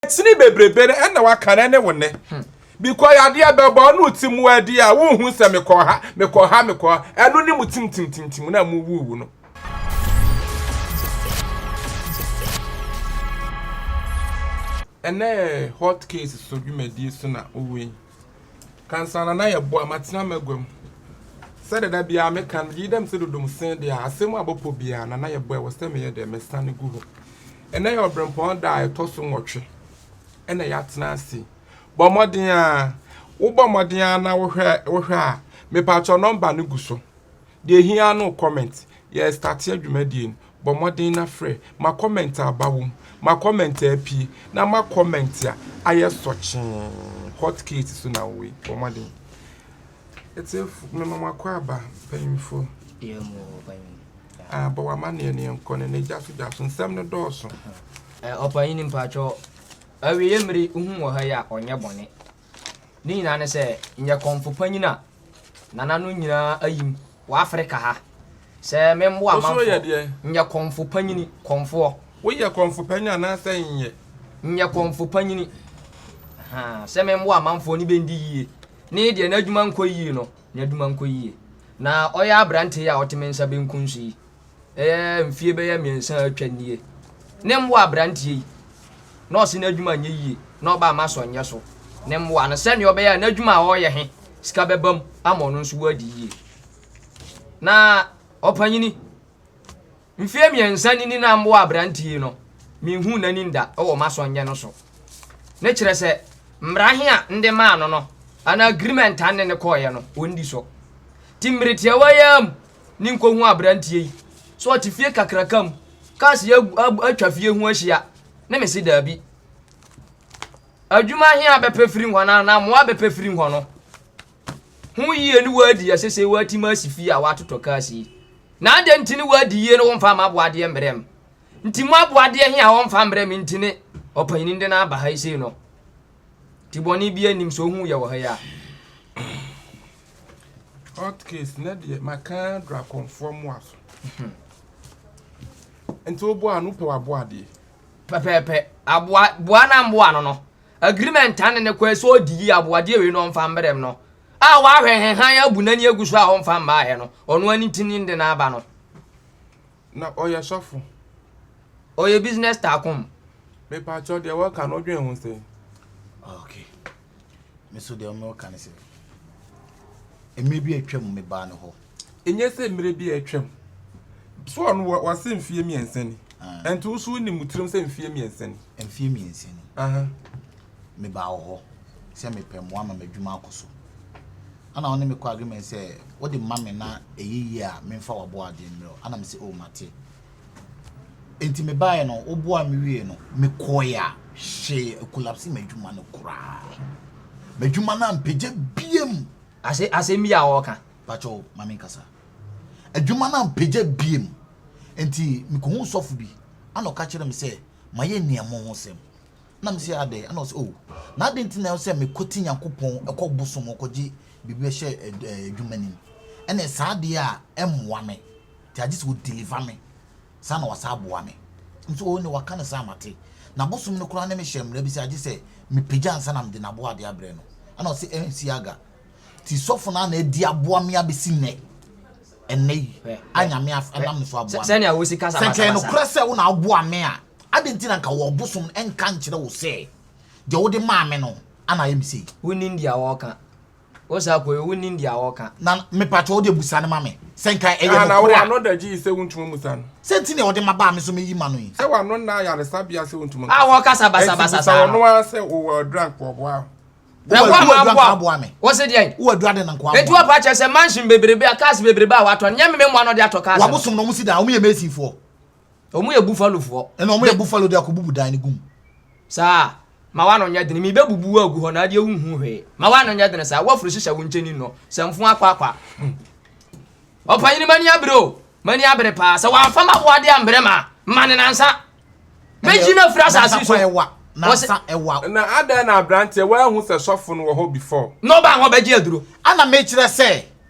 Ɛkyini bebrebe no ɛna waka no ɛne wo nnɛ. Mekɔ yadeɛ bɛbɔ ɔne wo ti mu adi a wonhu sɛ mekɔ ha, mekɔ ha, mekɔ ha. Ɛno ne mo timtimtimtim no a mowuwu no. Ɛnɛ hot case so dwumadie so na wowɔ yi. Kansana na yɛ boa matsena m'agua mu. Sɛ dɛ da biara me kan, megye dzi dɛ metse dodow mu sen dɛ asɛm a bɔpɔ biara na na yɛ boa wɔ sɛ meyɛ dɛ mesan gu hɔ. Ndɛ yɛ ɔberempɔn da a ɛtɔ so nwɔtwe na yɛatsena ase yi. Bɔ mbɔden ara, wo bɔ mbɔden ara na wo hwɛ wo hwɛ a, mepa kyɛw nɔmba no gu so. Deɛ ehia ara no wo kɔmɛnt. Yɛ starte dwumadie no. Bɔ mmɔden na frɛ. Ma comment a aba wom, ma comment a apue, na ma comment a ayɛ sɔkyee. Hot case so na wowɔ yi, bɔ mmɔden. Atiefo, mema mo akwaaba, mpanyimfo. Yɛn mu wɔ ɔpanyin. Ah, bɔ w'amanneɛ ne yɛnkɔ no, na egya so gya so. Nsɛm no dɔɔso. Ɔpanyin mpakyɛw, awieeɛ mmere hu wɔ ha yi a ɔnyɛ bɔne. Ne nyinaa ne sɛ nyɛ kɔmfo panyin a nana no nyinaa ayim wɔ Afrika ha sɛ memmoa amanfoɔ. Nyɛ kɔmfo panyini, kɔmfoɔ. Woyɛ kɔmfo panyin anaasɛ nyɛ? Nyɛ kɔmfo panyini. Ahaa, sɛ memmoa amanfoɔ ne bɛndi yie. Ne deɛ n'adwuma nkɔ yie no, n'adwuma nkɔ yie. Na ɔyɛ aberante yi a ɔte me nsa benkum so yi, ɛyɛ mfeɛ bɛyɛ mmiɛnsa a atwa nie. Ne mmoa aberanteɛ yi, na ɔse n'adwuma nyɛ yie, na ɔbaa ma so nyɛ so. Ne mmoa no, sɛdeɛ ɔbɛyɛ a n'adwuma a ɔreyɛ he, sika bɛba mu ama ɔno nso wadi yie. Na ɔpanyini, mfeɛ mmiɛnsa ni na mmoa aberanteɛ yi no, menhuu n'anim da wɔ m'asɔnyɛ no so. Ne kyerɛ sɛ, mmara he a nde maa no no, anaa agreement a nne no kɔeɛ no, ɔndi so. Nti mmere tiawa yi ara mu, ne nkohu aberanteɛ yi sɛ ɔte fie kakraka mu kaa sɛ atwa fie ho ahyia ne me se daabi adwuma he a bɛpɛ firi hɔ no na mmoa bɛpɛ firi hɔ no ho yie ne waadi ɛsɛ sɛ watim asi fie a watotɔ kaase yi na adɛn nti ne waadi yie no wɔmfa ma aboadeɛ mmerɛ m nti mo aboadeɛ he a wɔmfa mmerɛ m nti ne ɔpanyini de no aba ha yi sei no nti bɔne bi anim sɛ ohuu yɛ wɔ ha yi a Hot case na deɛ maka drakonfoɔ mmoa so. Nti woboa no wopɛ waboa adeɛ. Pɛpɛɛpɛ aboa boa na mboa no no agreement ane ne kɔ ɛsɛ ɔdi yi aboadeɛ wei na ɔmfa mbrɛm no a wahwɛ hehan abu n'ani agu so a ɔmfa mmaa hɛ no ɔno ani ti ne de no aba no. Na ɔyɛ sɔfo. Ɔyɛ business takom. Mepa akyɛw deɛ wɔka no ɔdwen ho sɛ. Okay. Me nso deɛ mɛka ne sɛ mmerɛ bi a atwam me baa ne hɔ. Ɛnyɛ sɛ mmerɛ bi a atwam. So ɔno wɔse mfeɛ mmiɛnsa ni. Ah. Ɛnti wo so wonim wo tirim sɛ mfeɛ mmiɛnsa ni. Mfeɛ mmiɛnsa ni. Aha. Me baa wɔ hɔ sɛ mepɛ mmoa ma m'adwuma akɔ so. Ana ɔne me kɔ agreement sɛ wode ma me na ɛyɛ yie a memfa w'aboa adeɛ mmerɛ wo. Ana me se oh mate. Enti mebaeɛ no, woboaa me wiee no, mekɔeɛ a, hwee, ɛkolapse m'adwuma no koraa. M'adwuma no ampagya biem. Ase, asɛm bi a wɔka. Pakyɛw, ma menkasa. Adwuma no ampagya biem. Enti mekɔhuu sɔfo bi, ana ɔka kyerɛ me sɛ, mayɛ nniamɔ ho sɛm. Na mese, adɛn? Ana ɔse, oh, na adɛn nti na ɛwɔ sɛ mekɔte Nyankopɔn kɔ bosom hɔ kɔgye biribi bɛhyɛ adwuma no mu? Ɛne saa adeɛ a ɛmmoa me. Nti agye sɛ ɔdeliver me saa na wasan aboa me nso wei deɛ waka no saa mate. Na bosom no koraa ne me hyɛɛ mmara bi sɛ agye sɛ mepagya ansa na mede n'aboa adeɛ abrɛ no. Ɛna ɔse eh nsi aga. Nti sɔfo no ara na adi aboa me abɛsi nnɛ. Ɛnnɛ yi a Nyame nam ne so aboa me. Sɛnea wosi kasa basabasa. Sɛ nka ɛyɛ nokorɛ sɛ wo na woboa me a, adɛn nti na nka ɔbosom no nka nkyerɛ wo sɛ deɛ wode maa me no ana ayɛ me sei? Wonim deɛ wɔreka. Wo saa kɔ yi, wonnim deɛ wɔka. Na me patrɔ, wode busa no ma me, sɛ nka ɛyɛ nokorɛ a. Ana w'ano da gyee sɛ wontumi mmusa no? Sɛ nti na ɔde maba a me nso meyi ma no yi? Sɛ w'ano nna ayaresabea sɛ wontumi nkasa. A wɔkasa basabasa saa no. Enti busa ɔno ara sɛ wowɔ aduro a nka ɔboa wo. Na wo a maboa me. Wo se deɛn? Wowɔ aduro adɛn na nka waboa me. Enti wɔpa kyɛ sɛ mansion bebrebe a cars bebrebe a watɔ no, nyɛ me memmoa no ɔde atɔ cars no. Wabosom na wɔsi dan, wɔyɛ masonfoɔ. Wɔn yɛ buffalo foɔ. Ɛna wɔn yɛ buffalo de akɔ bubu dan ne gum. Saa, ma w'ano nyɛ dene, mebɛ bubu wo agu hɔ na adeɛ wonhu hwee. Ma w'ano nyɛ dene saa, w'afuru hyehyɛ wo nkyɛni no, sɛ mfon akwaakwa. Ɔpanyini m'ani abere o, m'ani abere paa, sɛ w'anfa m'aboadeɛ ambrɛ ma, ma ne nansa. Mɛyi no afiri asase so. Nansa ɛwa. Na adɛn na abranteɛ, w'anhu sɛ sɔfo no wɔ hɔ before? Na ɔbaa hɔ bɛgye aduro. Ɛna mekyerɛ sɛ,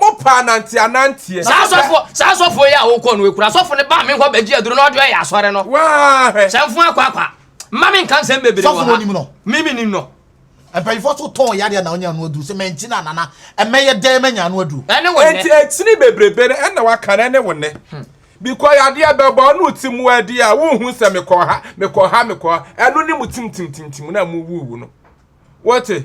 mo pa ananteananteɛ. saa sɔfo saa sɔfo yi a wokɔ no ekura sɔfo no baa me hɔ bɛgye aduro na ɔde ɔyɛ asɔre no waa hwɛ sɛ mfo akɔ akwa mma me nka nsɛm bebree wɔ ha me me nim no mpanyinfoɔ so tɔn yadeɛ na ɔnyɛ ano aduru sɛ mɛnkyi na nana ɛmɛyɛ dɛn mɛnya ano aduru ɛne wo nti akyini bebrebe no ɛna waka no ɛne wo nɛ hmm. bikɔ yadeɛ bɛbɔ ɔno ti mu adi a wohu sɛ mekɔ ha mekɔ ha mekɔ ha ɛno ne mu timtimtimtim na mu wuwu no wote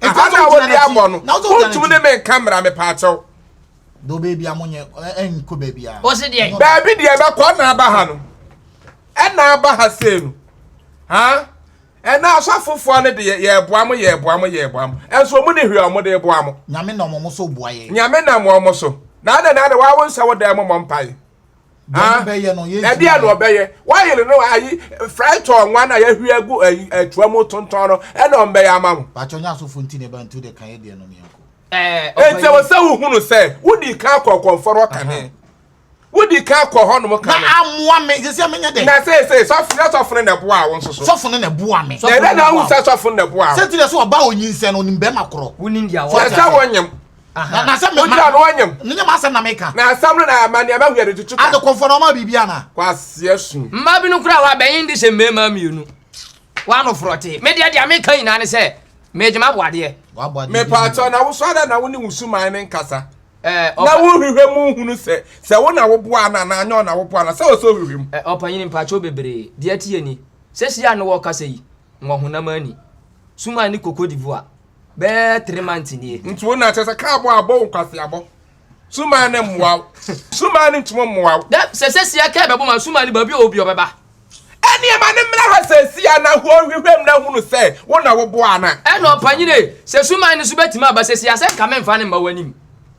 ɛkwan a wɔde abɔ no wontumi ne me nka mmara me paakyɛw dɛ ɔbɛbi a monyɛ ɛnkɔ baabi a ɔse deɛ baabi deɛ ɛbɛkɔ na aba ha no ɛna aba ha sei no ha ɛna asɔfofoɔ no de yɛboa mo yɛboa mo yɛboa mo ɛnso ɔmo ne hwɛ ɔmo de boa mo nyame nam ɔmo so boa yɛ nyame nam ɔmo so na adɛ na adɛ wawo nsa wo dan mo mɔ mpae Ah, ɛde a na ɔbɛyɛ wayere no ayi fry tɔn nwa na yɛhwi agu ayi atua mu tontɔn no ɛna ɔmbɛyɛ ama wo. bàtò nyɛ asofo nti na ɛbɛn to de kan yɛ deɛ no mìíràn kɔ. ɛnti ɛwɔ sɛ wohunu sɛ wodi kan kɔ kɔnfɔrɔ uh-huh. kane wodi kan kɔ hɔ nom kane. na amoa mi sisi ɛmi nyɛ dɛ. na sese sɔfo na sɔfo ne na ɛboa wɔn soso. sɔfo ne na ɛboa mi. na ɛdɛ na ahun sɛ sɔfo ne na ɛboa wɔn. sɛ ti na so ɔba onyinsɛn no onim bɛrima korɔ. woni ndi awɔ sɛ sɛ wɔnyam. na na sɛ mema wogyina no anyam menyɛ m'asɛm na meka na asɛm no na ama nneɛma hu yɛde twetwe ka adekɔmfoɔ na ɔma biribi anaa kwase asu mmaa binom koraa wɔ abɛnyen de hyɛ mmarima mmienu wano forɔtee me deɛ deɛ meka nyinaa ne sɛ mede mabo adeɛ mepaakyɛw na wo so adɛn na wo ne wo suman ne nkasa eh, na wohwehwɛ mu hunu sɛ sɛ wo na woboa no anaa nyɛ ɔna woboa no sɛ wɔ sɛ wohwehwɛ mu eh, ɔpanyini mpaakyɛw bebree deɛ tie ni sɛ hyia ne wɔkasa yi wɔ honam ani suman ne kokodivoa Bɛɛ three months nie. Nti wo na kyɛ sɛ kaa bɔ abɔ wo kwaseabɔ. Sumaa ne mmoa wo. Sumaa ne ntoma mmoa wo. Dɛ sɛ sɛ sia kaa bɛbɔ ma sumaa ne baabi a obi ɔbɛba. Ɛneɛ ma ne mmra ha sɛ sia na hɔ hwehwɛm na hunu sɛ wo na wo boaa no a. Ɛnna ɔpanyin e, sɛ sumaa ne nso bɛtumi aba sɛ sia sɛ nka menfa ne mma w'anim.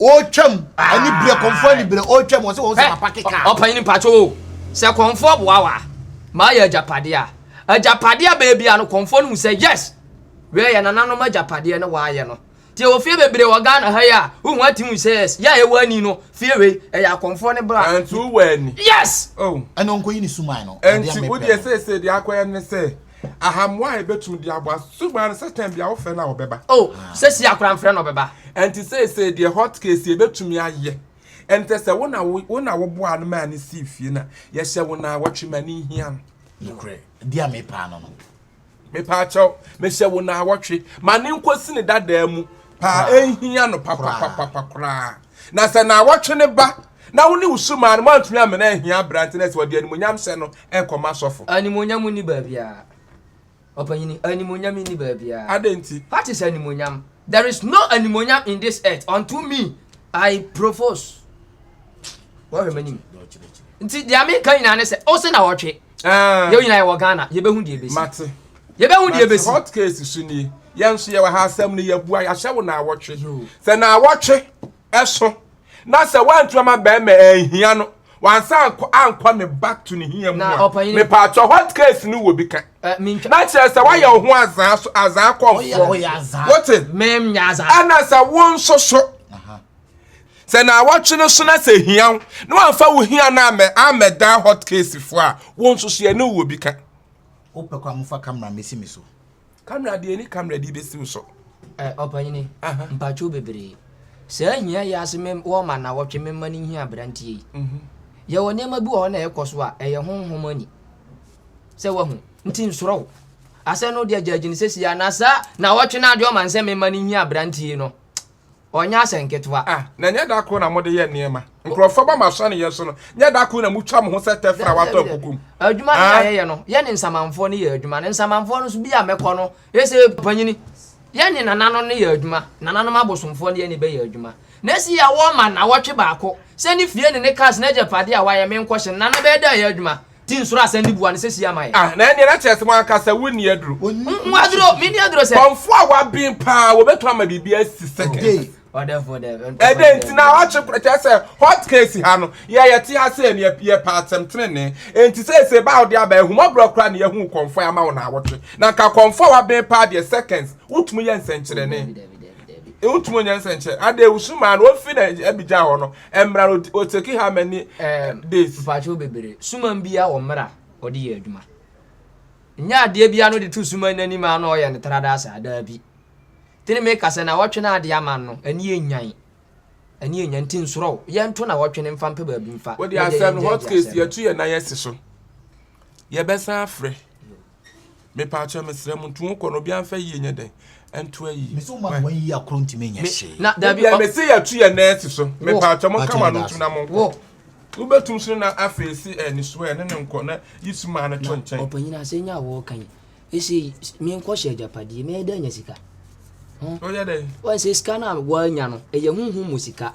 Ɔretwam ani berɛ kɔmfoɔ ani berɛ ɔretwam ɔsɛ wɔn sɛ papa keka. Ɔpanyin mpatsɔ o sɛ kɔmfoɔ boa wa ma ayɛ agyapadeɛ a agyapadeɛ a bɛyɛ biara no kɔmfoɔ no hu sɛ yes wei yɛ nananom agyapadeɛ na wɔayɛ no nti ɛwɔ fie bebree wɔ Ghana ha yi a wohu ate hu sɛ yes yɛ a ɛwɔ ani no fie wei ɛyɛ akɔmfoɔ ne bra. Ɛnti wowɔ ani. Yes. Oh. Ɛna ɔnkɔyi ne suman no. Ɛnti wodeɛ seesei deɛ akɔyɛ ne sɛ. Ahamoa a ebetumi de aboa suban no satan bi a wɔfrɛ no a ɔbɛba. O, sɛsi akora mfrɛ no ɔbɛba. Ɛnti seesei deɛ hot case yi ebetumi ayɛ. Ɛntɛ sɛ wo na wo wo na woboa no maa ne sii fie na yɛhyɛ wo na awɔtwe ma ne hia no. Nokorɛ, di a mepaa no no. Mepaa kyɛw, mehyɛ wo na awɔtwe ma ne nkosi ne dadaa mu paa ɛnhia no papapapapa koraa. Na sɛ na awɔtwe no ba Na wo ne wo sumaa no, moantumi ammena ahia aberante no sɛ ɔde animuonyamsɛ no rekɔma asɔfo. Animuonyam nni baabiara. Ɔpanyin, animuonyam nni baabiara. Adɛn nti? What is animuonyam? There is no animuonyam in this earth unto me, I Provos. Wɔhwɛ m'anim. Nti deɛ meka nyinaa ne sɛ, ose na wɔtwe. Ah. Yɛn nyinaa yɛwɔ Ghana, yɛbɛhu deɛ ɛbɛsi. Mate. Yɛbɛhu deɛ ɛbɛsi. Hot case so nie. Yɛn nso yɛwɔ ha asɛm no yɛabua, yɛahyɛ wo naawɔtwe. Sɛ naawɔtwe. ɛso na sɛ wantu ama bɛrima anhia no wansa ankɔ ankɔ ne back to ne hia mu a mepaakyɛ what case no wɔ bi ka na kyerɛ sɛ wayɛ wo ho azaa so azaa kɔmfoɔ wote ɛna sɛ wo nso so sɛ na awɔtwe no so na sɛ hia wo na wamfa wo hia no amɛ amɛdan hot case foɔ a wo nso so yɛ ne wɔ bi ka wopɛ kɔ a mofa camera mɛsi me so Camera deɛ ɛni camera de bɛsi wo so. Eh ɔpanyini, mpakyɛw bebree. Saa ahia yi ase me wɔ ma nnawɔtwe me mma no nhia abranteɛ yi. Yɛwɔ nneɛma bi wɔ hɔ na ɛkɔ so a ɛyɛ honhom ani. Sɛ wahu, nti nsrɔ wo. Asɛ no deɛ gyagyini sɛsi a na saa nnawɔtwe no adeɛ ɔma nsɛ me mma no nhia abranteɛ yi no. Ɔnyɛ asɛm nketewa. Ah, na ɛnyɛ da koro na mode yɛ nneɛma. Nkurɔfoɔ ba mo asɔneyɛ so no, nyɛ da koro na motwa mo ho sɛ tɛferɛ a wɔatɔ nkuku mu. Adwuma no na yɛyɛ no, yɛne nsamanfoɔ no yɛ adwuma, na nsamanfoɔ no nso bi a mɛkɔ no, ese ɔpanyini, yɛne nananom no yɛ adwuma, nananom abosomfoɔ no yɛne bɛyɛ adwuma. Na ese yɛwɔ ma nnawɔtwe baako, sɛ ne fie ne ne cars n'agyapadeɛ a wayɛ, menkɔhye no, na na bɛyɛ dɛ ayɛ adwuma. Ti nsoro asɛm de bua no sɛ si ama yɛ. Ah, na ɛneɛ na kyerɛ sɛ mo ankasa wo nni aduro. Wo nni aduro. Me nni aduro sɛ. Bɔnfo a waben paa, wɔbɛtumi ama biribi asi sɛkɛn. Ɔdɛfo dɛ. Ɛdɛ nti na ɔkye kora kyerɛ sɛ hot case ha no, yɛ yɛte ha sɛ ɛneɛ yɛ paa asɛm tenene. Enti seesei ba a wode aba ahummɔborɔ koraa na yɛahu kɔnfo a ama wo naawɔtwe. Na nka kɔnfo a waben paa deɛ sɛkɛns, wotumi yɛ nsɛnkyerɛnne. Wotumi nyɛ nsɛnkyerɛnne. Adɛn, wo sumaa no, wɔmfi na abigya hɔ no, Mmra no o take how many days. Mpakyɛw bebree suman bia wɔ mmra ɔde yɛ adwuma nyɛ adeɛ bia no de to suman nanim a na ɔyɛ no tradaa saa daabi tini me ka sɛ na wɔtwe no adeɛ ama no ani enyan ani enyan nti nsorɔw yɛ nto na wɔtwe no mfa mpɛ baabi mfa wɔde asɛm no hot case yɛtu yɛ nan yɛsi so yɛbɛsan afrɛ Mepaakyɛ mesrɛ mo ntu kɔ no obi anfa yie nyɛ dɛn ɛnto ayi. Mesi wo ma wɔn yi akoro ntumi nyɛ hyee. Na dabi ɔ. Mesi yɛ tu yɛ nɛɛsi so mepaakyɛ mo kama no ntu na mo nkɔ. Wobɛtum so na afei si ɛ nisu ɛ ne ne nkɔ na yi suma ne to nkyɛn. Ɔpanyin asɛ nya wɔ kan yi esi mi nkɔ hyɛ agyapadeɛ mɛyɛ dɛ nya sika. Ɔyɛ dɛ. Wɔn sɛ sika na wɔanya no ɛyɛ huhu mu sika